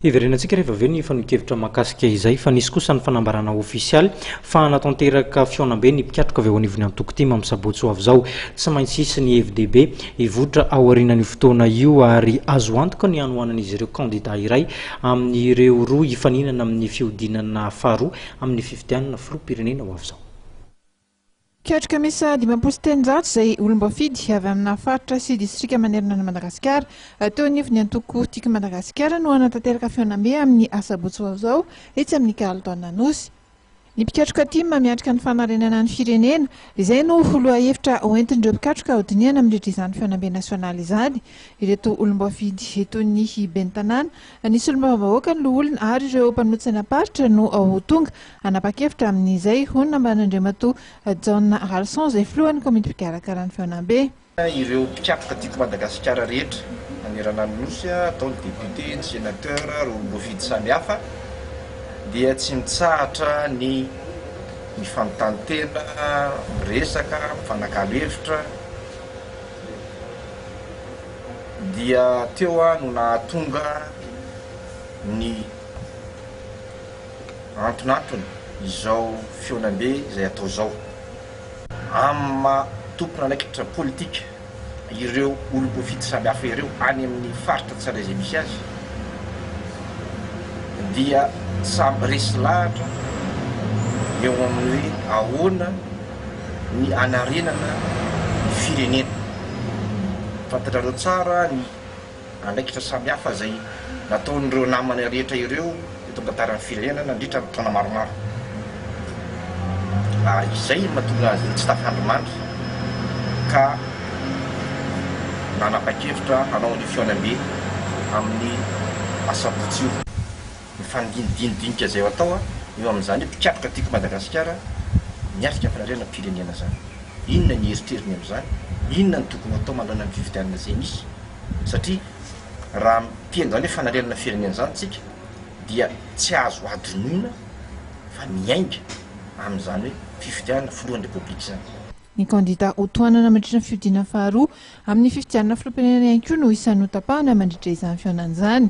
Hiverenantsika rehefa avy eo ny fanehoan-kevitra mahakasika izay fa nisy kosa ny fanambarana ofisialy fa hanatanteraka fihaonambe ny mpikatroka avy ao anivon'ny antoko tim amin'ny sabotsy ho avy izao. Tsy maintsy hisy ny hevi-dehibe hivoitra aorianan'io fotoana io ary azo antoka ny hanohanan'izy ireo kandida iray amin'ireo roa hifaninana amin'ny fihodinana faharoa amin'ny fifidianana filoham-pirenena ho avy izao. Mpiatrika miisa dimampolo sy telonjato izay olom-boafidy avy amina faritra sy distrika manerana an'i Madagasikara, teo anivon'ny antoko Tika Madagasikara no hanatanteraka fihaonambe amin'ny asabotsy ho avy izao etsy amin'ny Carlton Anosy. Ny mpikatroka Tim miatrika ny fanarenana ny firenena, izay no ho lohahevitra hoentin'ireo mpikatroka hodinihana mandritra izany fihaonambe nasionaly izany. Ireto olom-boafidy toy ny ben'ny tanàna, ny solombavambahoaka, ny loholona ary ireo mpanohitra ny am-paritra no ho tonga Hanapa-kevitra amin'izay, hoy ny nambaran'Andriamatoa Jaona Ralison, izay filohan'ny komity mpikarakara ny Fihaonambe. Ireo mpikatroka tiako Madagasikara rehetra manerana ny Nosy, atao ny député, ny sénateur, ireo olom-boafidy samihafa, dia tsy mitsahatra ny mifanontany tena, miresaka, mifanakalo hevitra, dia teo aho no nahatonga ny. antonantony izao fihaonambe izay atao izao amin'ny maha tompon'andraikitra politika ireo olom-boafidy samihafa ireo any amin'ny faritra tsirairay izay misy azy dia samy resy lahatra eo amin'ny hoe ahoana ny hanarenana ny firenena. Fantatrareo tsara ny. andraikitra samihafa izay nataon'ireo namany rehetra ireo eto an-tantaran'ny firenena nandritra ny taona maromaro, ary izay no mahatonga azy ireo tsy tafandrimandry ka nanapa-kevitra hanao ny fihaonambe amin'ny asabotsy io. Mifandinika dini dinika zay atao a, eo amin'izany hoe mpikatroka tiako Madagasikara miatrika fanariana pirenena zany. Inona ny eritreriny amin'izany? Inona no tokony ho atao manoloana ny fifidianana zay misy? Satria raha miteny zany hoe fanarianana firenena zany tsika dia tsy azo adinoina fa miainga amin'izany hoe fifidianana filohan'ny repoblika zany. Ny kandida ho tohanana mandritra ny fiodiana faharoa amin'ny fifidianana filoham-pirenena ihany koa no isan'ny ho tapahana mandritra izany fihaonana izany.